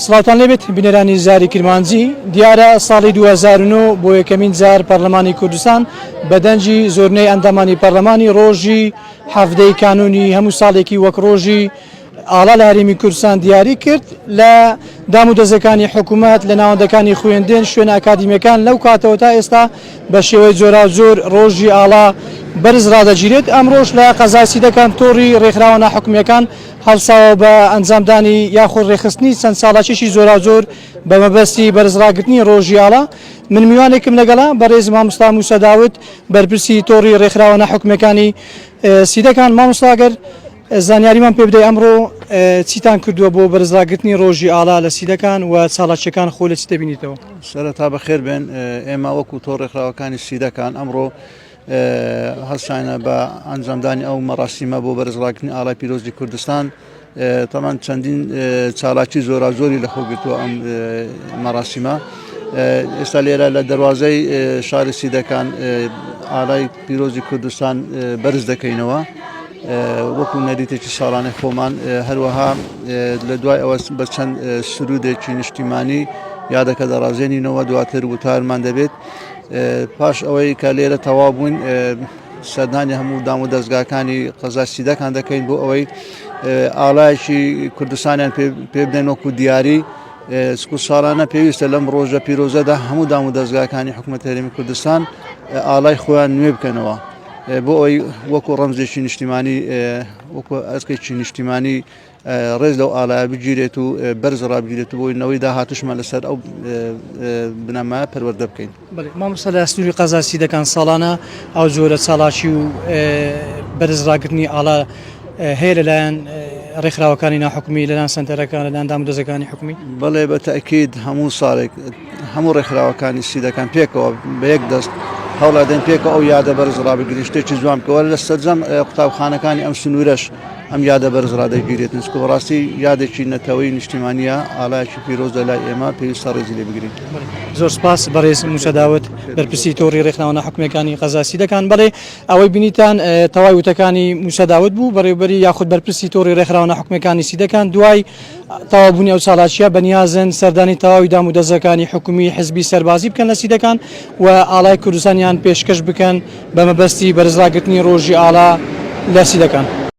سڵاوتان لێبێت بینەرانی زاری کرمانجی دیارە ساڵی 2009 بۆ یەکەمین جار پەرلەمانی کوردستان بە دەنجی زۆرنەی ئەندامانی پەرلەمانی ڕۆژی حەفدەی کانونی هەموو ساڵێکی وەک ڕۆژی ئاڵا لە هەرێمی کوردستان دیاری کرد لە دام و دەزەکانی حکوومەت لە ناوەندەکانی خوێندێن شوێن ئاکادیمیەکان لەو کاتەوە تا ئێستا بە شێوەی جۆرا زۆر ڕۆژی ئاڵا بەرز ڕدەگیرێت ئەم ڕۆژ لە قەزای سیدەکان تۆڕی ڕێکخراوە ناحکومیەکان هەڵساوە بە ئەنجامدانی یاخود ڕێکخستنی چەند چالاکیەکی جۆراوجۆر بە مەبەستی بەرز ڕاگرتنی ڕۆژی ئاڵا، من میوانێکم لەگەڵە بەڕێز مامۆستا موسا داود بەرپرسی تۆڕی ڕێکخراوە نا حکومیەکانی سیدەکان، مامۆستا گەر زانیاریمان پێ بدەی ئەمڕۆ چیتان کردووە بۆ بەرز ڕاگرتنی ڕۆژی ئاڵا لە سیدەکان و چالاکیەکان خۆ لە چی دەبینیتەوە؟ سەرەتا بەخێر بێن، ئێمە وەکو تۆڕ ڕێکخراوەکانی سیدەکان ئەمڕۆ هەستانە بە ئەنجامدانی ئەو مەڕاسیمە بۆ بەرزڕاکردنی ئاڵای پیرۆزی کوردستان تەمان چەندین چالاکی زۆرا زۆری لە خۆگرتووە ئەم مەڕاسیمە ئێستا لێرە لە دەواازەی شاری سیدەکان ئالای پیرۆزی کوردستان بەرز دەکەینەوە. وەکو نەریتێکی ساڵانە خۆمان هەروەها لە دوای ئەوە بە چەند سرودێکی نیشتیمانی یادەکە دەڕازێنینەوە دواتر وتارمان دەبێت پاش ئەوەی کە لێرە تەوا بووین سەردانی هەموو دام و دەستگاکانی قەزا سیدەکان دەکەین بۆ ئەوەی ئالایەکی کوردستانیان پێ بدەن وەکو دیاری سکو ساڵانە پێویستە لەم ڕۆژە پیرۆزەدا هەموو دام و دەستگاکانی حکوومەت هەرێمی کوردستان ئالای خۆیان نوێ بکەنەوە بۆ ئەوی وەکو ڕەمزێکی نیشتیمانی وەکو ئەسکێکی نیشتیمانی ڕێز لەو ئاڵایە بگیرێت و بەرز ڕابگیرێت و بۆی نەوەی داهاتوشمان لەسەر ئەو بنەمایە پەروەردە بکەین مامۆستا لە سنووری قەزاسی دەکان ساڵانە ئەو جۆرە چاڵاکی و بەرز ڕاگرنی ئاڵا هەیە لەلایەن ڕێکخراوەکانی ناحکومی لەلایەن سنتەرەکان لەلایەن دامودەزەکانی حکومی بەڵێ بە تاکیید هەموو ساڵێک هەموو ڕێکخراوەکانی سیدەکان پێکەوە بە یەک دەست هەوڵادەن پێکە ئەو یادە بەرز ڕابگرین شتێکی جوان بکەوە لە سەرجەم قوتابخانەکانی ئەم سنوورەش ئەم یادە بەرز ڕادەگیرێت نسکە بەڕاستی یادێکی نەتەوەی نیشتیمانە ئالایکی پیرۆز لە لای ئێمە پێویستە ڕێزی لێ بگرین زۆر سپاس بەڕێز موچەداوت بەرپرسی تۆڕی ڕێکخراوە حکومەکانی قەزاسی دەکان بڵێ ئەوەی بینیتان تەواوی وتەکانی موچەداوت بوو بەڕێوبەری یاخود بەرپرسی تۆڕی ڕێکخراوە حکومەکانی سیدەکان دوای تەواوبوونی ئەو چالاکییە بەنیازن سەردانی تەواوی دامودەزگاکانی حکومی، حزبی، سەربازی بکەن لە سیدەکان و ئاڵای کوردستانیان پێشکەش بکەن بە مەبەستی بەرزڕاگرتنی ڕۆژی ئاڵا لە سیدەکان.